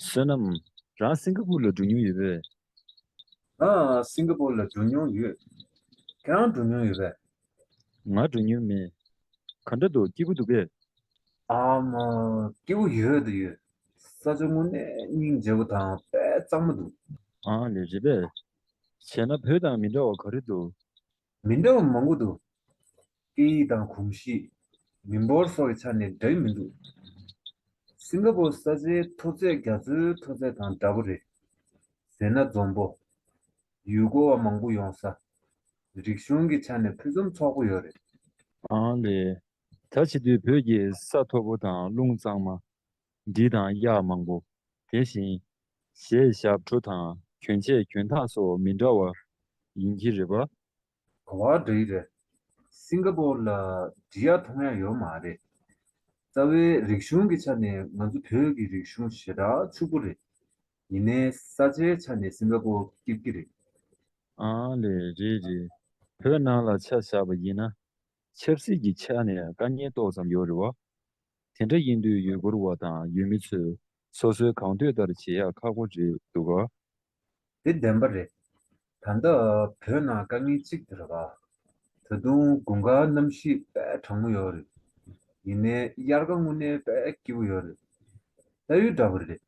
བསོད་ནམས། རང་སིང་ག་པུར་ལ་འགྲོ་མྱོང་ཡོད་པས། རང་སིང་ག་པུར་ལ་འགྲོ་མྱོང་ཡོད། ཁྱེད་རང་འགྲོ་མྱོང་ཡོད་པས། ང་འགྲོ་མྱོང་མེད། ག་འདྲ་འདུག་སྐྱིད་པོ་འདུག་གས། ཨམ། སྐྱིད་པོ་ཡོད་འདུག་ཡོད། ས་ཆ་དངོས་གནས་སྙིང་རྗེ་བོ་དང་དཔལ་གཙང་མ་འདུག། ཨང། ལས་རེད་པས། བྱས་ན་བོད་དང་མི་འདྲ་བ་ག་རེ་འདུག། མི་འདྲ་བ་མང་པོ་འདུག་སྐད་ཡིག་དང་གོམས་གཤིས། མི་འབོར་སོགས་ཀྱི་ཆ་ནས་འདྲ་ཡི་མི་འདུག་སིང་ག་པོར་ས་ཆའི་མཐོ་ཚད་རྒྱ་མཚོའི་མཐོ་ཚད་དང་འདྲ་པོ་རེད། ཟེར་ན་འཛོམས་པོ། ཡུལ་སྐོར་བ་མང་པོ་ཡོང་ས། རིག་གཞུང་གི་ཆ་ནས་ཕུན་སུམ་ཚོགས་པོ་ཡོད་རེད། ཨང་ལས། ད་བྱེད་དུས་བོད་ཀྱི་ས་མཐོ་པོ་དང་རླུང་གཙང་མ། འབྲི་དང་གཡག་མང་པོ་དེ་བཞིན། ཞེས་ཞབས་བྲོ་དང་གྱོན་ཆས་གྱོན་ཐག་སོགས་མི་འདྲ་བ་ཡིན་གྱི་རེད་པ། གོ་བ་འདྲ་ཡི་རེད། སིང་ག་པོར་ལ་འབྲི་གཡག་མཐོང་ཡ་ཡོད་མ་རེད། རྩ་བའི་རིག་གཞུང་གི་ཆ་ནས་ང་ཚོ་བོད་ཀྱི་རིག་གཞུང་ཞེ་དྲག་ཕྱུག་པོ་རེད། ཡིན་ནའི་ས་ཆའི་ཆ་ནས་སིང་ག་པོ་སྐྱིད་སྐྱིད་རེད། ཨང་ལེ་རེད་རེད། བོད་ནང་ལ་ཆ་བཞག་པ་ཡིན་ན། ཆབ་སྲིད་ཀྱི་ཆ་ནས་དཀའ་ངལ་ཏོག་ཙམ་ཡོད་རེད་བ། དེ་འདྲ་ཡིན་དུས་ཡུལ་སྐོར་བ་དང་ཡུལ་མི་ཚོས་སོ་སོའི་གང་འདོད་ལྟར་བྱེད་ཡག་ཁག་པོ་རེད་འདུག་ག། དེ་བདེན་པ་རེད། ད་ལྟ་བོད་ནང་དཀའ་ངལ་གཅིག་དེ་རེད། ད་དུང་དགུན་ཁ་གནམ་གཤིས་དཔལ་དྲང་མོ་ཡོད་རེད། ཡིན་ནའི་དབྱར་ཁ་དངོས་གནས་དཔལ་སྐྱིད་པོ་ཡོད་རེད། ད་ཡོད་འདྲ་བོ་རེད། རེད་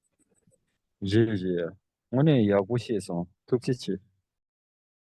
རེད། དངོས་གནས་ཡག་པོ་བཤད་སོང་ཐུགས་རྗེ་ཆེ།